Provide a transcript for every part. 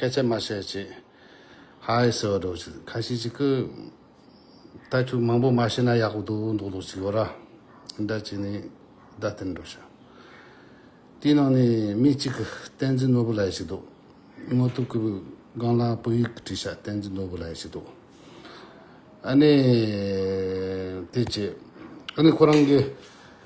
སྐད་ཆ་མ་བཤད་ཅིག། ཧའེ་ཟེར་བ་འགྲོ་ཅིག་ཁ་ཤིག་ཅིག་གི། ད་ཁྱོད་མང་པོ་མ་བཤད་ན་ཡག་པོ་འདུག་འདུག་འདུག་ཅིག་གོ་ར། ཟླ་གཅིག་ནས་ཟླ་སྟེར་འགྲོ་ཤག། དེའི་ནང་ནས་མི་གཅིག་གི་བསྟན་འཛིན་ནོར་བུ་ལ་ཡ་ཞིག་འདུག། དངོས་གཏུག་གི་སྒང་ལ་བོད་ཡིག་གི་བྲིས་ཤག་བསྟན་འཛིན་ནོར་བུ་ལ་ཡ་ཞིག་འདུག། ཨ་ནི། དེ་བྱས། ཨ་ནི་ཁོ་རང་གི།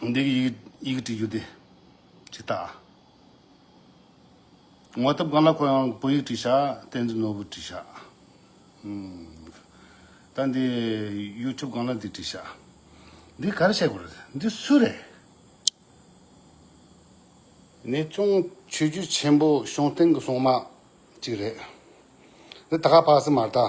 འདི་གི་ཡི་གེ་བྲིས་རྒྱུ་དེ་ཇི་ལྟ། ངོ་སྟབས་གང་ལ་ཁོ་ཡང་བོད་ཡིག་བྲིས་ཤག་བསྟན་འཛིན་ནོར་བུ་བྲིས་ཤག་ད་འདི་ཡུ་ཐུབ་གང་ལ་འདི་བྲིས་ཤག་འདི་ག་རེ་བཤད་དགོས་རེད་འདི་སུ་རེད། ནས་བཙོང་ཆོས་རྒྱུད་ཆེན་པོ་གཤོང་སྟེང་གི་སོང་མ་གཅིག་རེད་འདི་ད་ག་ཕག་སི་མར་ད།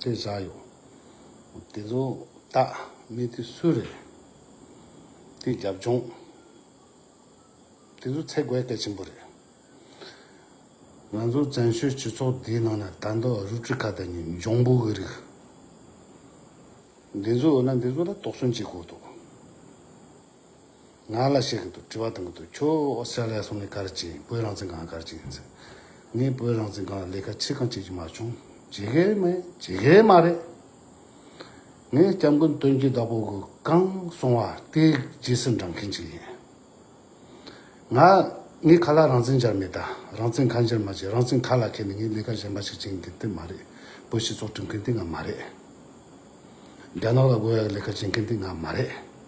དེ་བཞག་ཡོད། དེ་ཚོ་དག་མི་དེ་སུ་རེད། དེ་རྒྱབ་ལྗོངས། དེ་ཚོ་ཚེ་རྒོད་སྐད་ཆེན་པོ་རེད། ང་ཚོ་བཙན་བྱོལ་སྤྱི་ཚོགས་འདིའི་ནང་ན་དར་མདོ་ཨ་རུ་ཀྲི་ཀ་དང་ནི་འབྱུང་པོ་གི་རིགས། འདི་ཚོ་འོ་ན་འདི་ཚོ་ལ་དོགས་ཟོན་བྱེད་དགོས་འདུག། ང་ལ་བཤད་གི་འདུག་དྲི་བ་དང་གི་འདུག་ཁྱོད་ཨོ་སི་ཀྲ་ལི་ཡ་སོང་ནས་ག་རེ་བྱས་ཡིན་བོད་རང་བཙན་སྒང་ག་རེ་བྱས་ཡིན་ཟེར། ངས་བོད་རང་བཙན་སྒང་ལ་ལས་ཀ་ཆེ་གང་བྱེད་ཀྱི་མ་བྱུང། བྱེད་གི་རེད་མེད་བྱེད་གི་རེད་མ་རེད། ངས་སྐྱབས་མགོན་སྟོན་སྐྱིད་བདག་པོ་གི་གང་གསུང་བ་དེ་རྗེས་སུ་འབྲང་མཁན་ཞིག་ཡིན། ང་ངས་ག་ལ་རང་བཙན་སྦྱར་མེད་ད་རང་བཙན་གང་སྦྱར་མ་བྱས་རང་བཙན་ཁ་ལ་ཁྱེར་ནས་ངས་ལས་ཀ་གཞན་པ་ཞིག་བྱེད་མཁན་དེ་མ་རེད། བོད་སྤྱི་ཚོགས་སྐྲུན་མཁན་དེ་ང་མ་རེད། རྒྱ་ནག་ལ་དགོས་ཡག་ལས་ཀ་བྱེད་མཁན་དེ་ང་མ་རེད།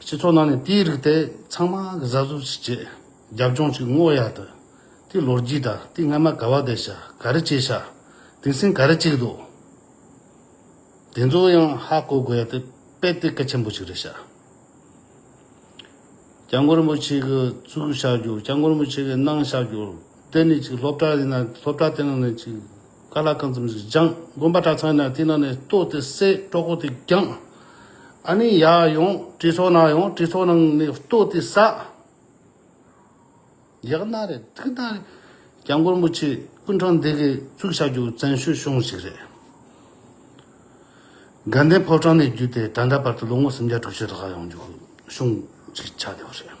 སྤྱི་ཚོགས་ནང་ནས་དེའི་རིགས་དེ་ཚང་མ་གཟབ་གཟབ་ཅིག་བྱས། རྒྱབ་ལྗོངས་ཅིག་བསྔོག་ཡག་དུ། དེའི་ལོ་རྒྱུས་དང་དེའི་སྔ་མ་ག་བ་དེ་བྱ་ག་རེ་བྱས་བྱ། དེང་སེང་ག་རེ་བྱེད་འདུག། དེ་ཚོ་ཡང་ཧ་གོ་དགོས་ཡག་དེ་དཔེ་དེབ་གལ་ཆེན་པོ་ཞིག་རེད་བྱ། སྐྱབས་མགོན་རིན་པོ་ཆེ་གི་གཙུག་བྱ་རྒྱུ་སྐྱབས་མགོན་རིན་པོ་ཆེ་གི་གནང་བྱ་རྒྱུ་དེ་ནི་ཅིག་སློབ་གྲྭ་ཡིན་ན་སློབ་གྲྭ་དེ་ནང་ནས་ཅིག། ཀ་ལ་ཀ་འཛུམ་ཞིག་སྦྱངས། དགོན་པ་གྲྭ་ཚང་ན་དེ་ན་ནས་ལྟོ་དེ་བསད་སྤྲོ་གོ་དེ་བརྒྱངས། ཨ་ནི་ཡ་ཡོང་གྲི་ཚོགས་ནང་ཡོང་གྲི་ཚོགས་ནང་ནས་ལྟོ་དེ་བསད། ཡག་ན་རེ་ཐུག་ན་རེ། རྒྱ་མགོར་མུ་ཆེ་ཀུན་འཕྲང་འདེགས་ཀྱི་གཙུག་བྱ་རྒྱུ་བཙན་བཤོལ་གཤོང་ཞིག་རེད། དགའ་ལྡན་ཕོ་བྲང་ནས་བརྒྱུད་དེ་ད་ལྟ་བར་དུ་ལོ་ངོ་སུམ་བརྒྱ་དྲུག་ཅུ་ལྷག་ཡོང་རྒྱུ་གཤོང་ཅིག་ཆགས་ཡོད་རེད།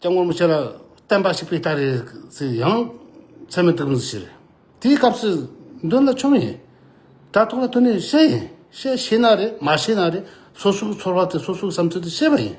སྐྱབས་ངོར་མི་ཆོས་ལ་བསྟན་པ་ཞིག་པའི་རྟགས་རེད་ཟེར་ཡང་ཚད་མེད་དུ་མི་འགྱུར། དེའི་སྐབས་སུ་མདུན་ལ་ཆོམ་ཡིན། དྲ་ཐོག་ལ་ཐོན་ནས་བཤད་ཡིན། བཤད་ཤེས་ན་རེད་མ་ཤེས་ན་རེད་སོ་སོའི་ཚོར་བ་དེ་སོ་སོའི་བསམ་ཚུལ་དུ་བཤད་པ་ཡིན།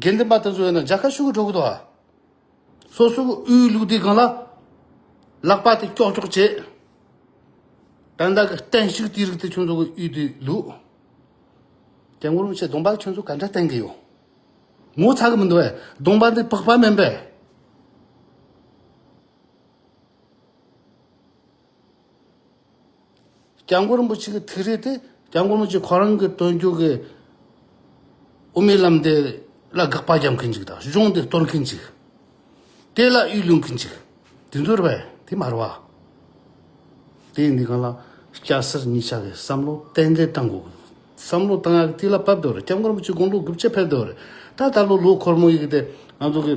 དགེ་འདུན་པ་དེ་ཚོ་ཡོད་ན་རྒྱ་གར་ཤུགས་འགྲོ་གི་འདུག་ཨ། སོ་སོ་གི་དབུའི་ལུགས་དེ་གང་ལ་ལག་པ་དེ་ཀྱོག་ཀྱོག་བྱེད། བན་དག་གི་བསྟན་བཤིག་དེ་རིགས་དེ་ཁྱོད་ཚོ་གི་དབུས་དེ་ལུགས། དེ་ངོར་མི་ཆེ་གདོང་པ་ཁྱོད་ཚོ་ག་འདྲ་བསྟན་གི་ཡོད། ངོ་ཚ་གི་མི་འདུག་ཨེ་གདོང་པ་འདི་ཕག་པ་མིན་པས། སྐྱབས་མགོན་རིན་པོ་ཆེ་གི་ཐིག་རིས་དེ་སྐྱབས་མགོན་རིན་པོ་ཆེ་ཁོ་རང་གི་སྟོན་རྒྱུགས་ཀྱི་དབུ་མའི་ལམ་དེ་ལ་དགག་པ་རྒྱག་མཁན་གཅིག་དང་གཞུང་དེ་གཏོར་མཁན་གཅིག་དེ་ལ་གཡུལ་ལུང་མཁན་གཅིག་དེ་ཚོ་རེད་པས་དེ་མ་རེད་བ། དེ་འདི་ག་ལ་སྐྱ་སེར་གཉིས་ཆ་གི་བསམ་བློ་གཏན་འཁེལ་གཏང་དགོས་བསམ་བློ་གཏང་ཡག་དེ་ལ་བབ་འདོད་རེད་སྐྱབས་མགོན་རིན་པོ་ཆེ་དགུང་ལོ་དགུ་བཅུ་ཕེབས་འདོད་རེད་ད་ལྟ་ལོ་ལོ་འཁོར་མོ་ཡིན་གི་དེ་ང་ཚོ་གི།